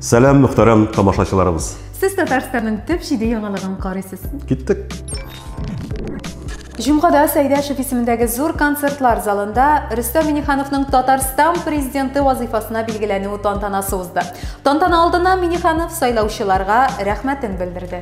Сәлам, мөхтәрәм тамашачыларыбыз. Сез Татарстанның төп җиде яңалыгын карыйсыз. Киттек. Җомгада Сәйдәшев исемендәге зур концертлар залында Рөстәм Минихановның Татарстан президенты вазифасына билгеләнү тантанасы узды. Тантана алдына Миниханов сайлаучыларга рәхмәтен белдерде.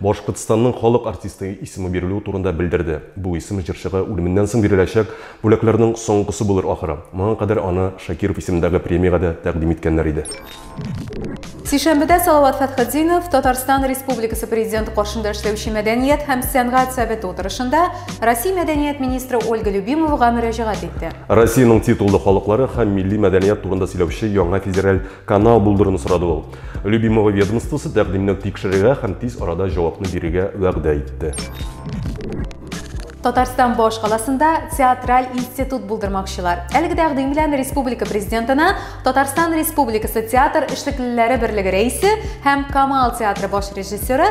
Башкортстанның халык артисты исеме бирелү турында белдерде. Бу исем җырчыга үлеменнән соң биреләчәк бүләкләрнең соңгысы булыр ахры. Моңа кадәр аны Шакиров исемендәге премиягә дә тәкъдим иткәннәр иде. Сишәмбедә Салават Фәтхетдинов Татарстан Республикасы Президенты каршында эшләүче мәдәният һәм сәнгать советы утырышында Россия мәдәният министры Ольга Любимовага мөрәҗәгать итте. Россиянең титуллы халыклары һәм милли мәдәният турында сөйләүче яңа федераль Канал булдыруны сорады ул. Любимого ведомствосы тәкъдимне тикшерергә һәм тиз арада җавапны бирергә вәгъдә итте. Татарстан башкаласында театраль институт булдырмакчылар. Әлеге тәкъдим белән республика президентына Татарстан Республикасы театр эшлеклеләре берлеге рәисе һәм Камал театры баш режиссеры